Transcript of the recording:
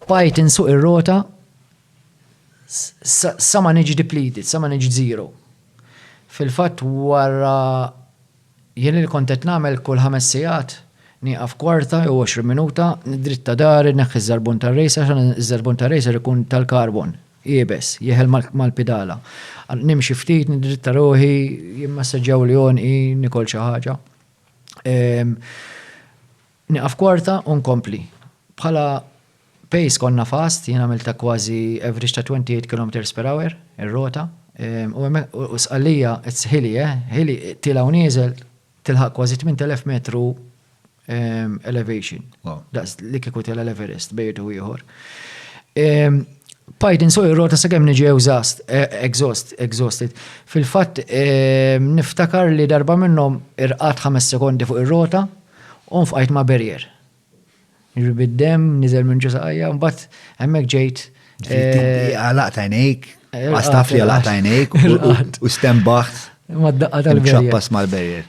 Bqajt insuq ir-rota sa ma niġi depleted, sa ma niġi zero. Fil-fatt wara jien li kont qed nagħmel kull ħames sigħat nieqaf kwarta jew għoxrin minuta, niddritta dahri, nneħħi ż-żarbun tar-racer għax iż-żarbun tar-racer ikun tal-karbon, iebes, jeħel mal-pidala. Nimxi ftit, niddritta ruħi, jimmassaġġjawli għonqi, nikol xi ħaġa. Nieqaf kwarta u nkompli. Bħala pace konna fast, jien għamiltha kważi average ta' 28 kilometres per hour ir-rota. U Sqallija it's hilly eh, hilly, tiela' u nieżel, tilħaq kważi 8,000 metru elevation. Daqs li kieku tela' l-Everest bejn jew ieħor. Bqajt insuq ir-rota sakemm niġi ewżast, exhaust, exhausted. Fil-fatt niftakar li darba minnhom irqadt ħames sekondi fuq ir-rota, U nfqajt ma' Berrier. Jiġifieri bid-demm niżel minn ġo saqajja, mbagħad hemmhekk ġejt. Għalaqt għajnejk, għastaf li għalaqt għajnejk u stembaħt. Ma d-daqqa tal-Berrier. Ċappas mal-Berrier.